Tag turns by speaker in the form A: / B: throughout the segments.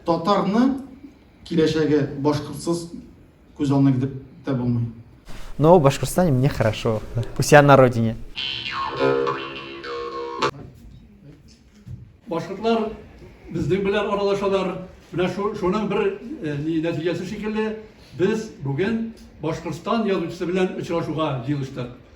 A: Татарның киләчәге башкортсыз күз алдына китереп тә булмый. Но в
B: Башкортостане мне хорошо. У себя на родине.
C: Башкортлар безнең белән аралашалар. Менә шуның бер э, нәтиҗәсе шикелле, без бүген Башкортстан язучысы белән очрашуга җыелыштык.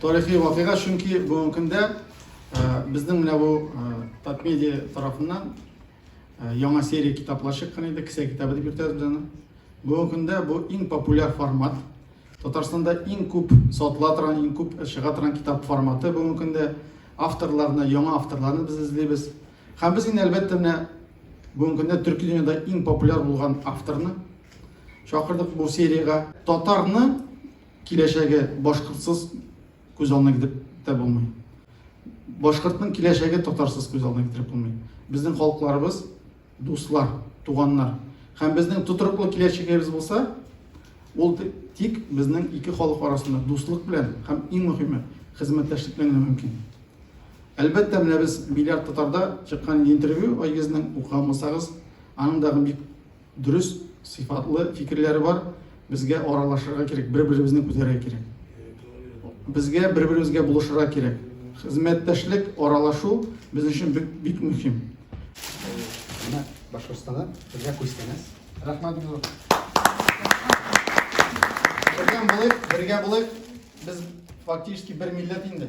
A: Тарихи вакыйга, чөнки бүгенге көндә безнең менә бу Татмедиа тарафыннан яңа серия китаплар чыккан иде, кесә китабы дип йөртәбез аны. Бүгенге көндә бу иң популяр формат. Татарстанда иң күп сатыла торган, иң күп чыга торган китап форматы бүгенге көндә. Авторларны, яңа авторларны без эзлибез. Һәм без инде әлбәттә менә бүгенге көндә төрки дөньяда иң популяр булган авторны чакырдык бу сериягә. Татарны Киләчәге башкортсыз күз алдына китереп тә булмый. Башкортның киләчәге татарсыз күз алдына китереп булмый. Безнең халыкларыбыз дуслар, туганнар. Һәм безнең тотрыклы киләчәгебез булса, ул тик безнең ике халык арасында дуслык белән һәм иң мөһиме хезмәттәшлек белән генә мөмкин. Әлбәттә, менә без миллиард татарда чыккан интервью Айгизнең укыган булсагыз, аның дагы бик Дөрес, сыйфатлы фикерләре бар. Безгә аралашырга кирәк, бер-беребезне күтәрергә кирәк. Безгә бер-беребезгә булышырга кирәк. Хезмәттәшлек, аралашу безнең өчен бик, бик мөһим.
D: Менә Башкортстанда безгә күчсәгез. Рәхмәт зур. Бергә булыйк, бергә булыйк. Без фактически бер милләт инде.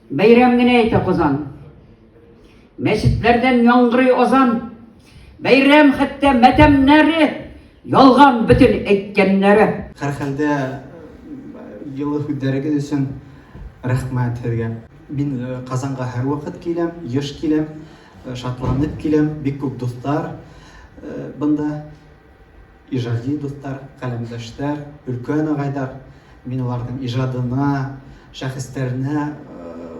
E: Бәйрәм
F: генә әйтә Казан. Мәчетләрдән яңгырый азан. Бәйрәм хәтта мәтәмнәре ялган бөтен әйткәннәре. Һәрхәлдә
D: елы һүддәрегез өчен рәхмәт сезгә. Мин Казанга һәрвакыт киләм, еш киләм, шатланып киләм. Бик күп дуслар бында. Иҗади дуслар, каләмдәшләр, өлкән агайлар, мин аларның иҗадына, шәхесләренә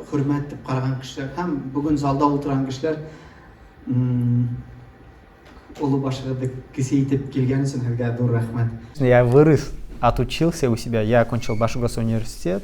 D: хөрмәт итеп караган кешеләр һәм бүген залда утырган кешеләр олы башыгызды кесе итеп килгән өчен сезгә зур рәхмәт. Я вырос,
B: отучился у себя, я окончил Башгосуниверситет.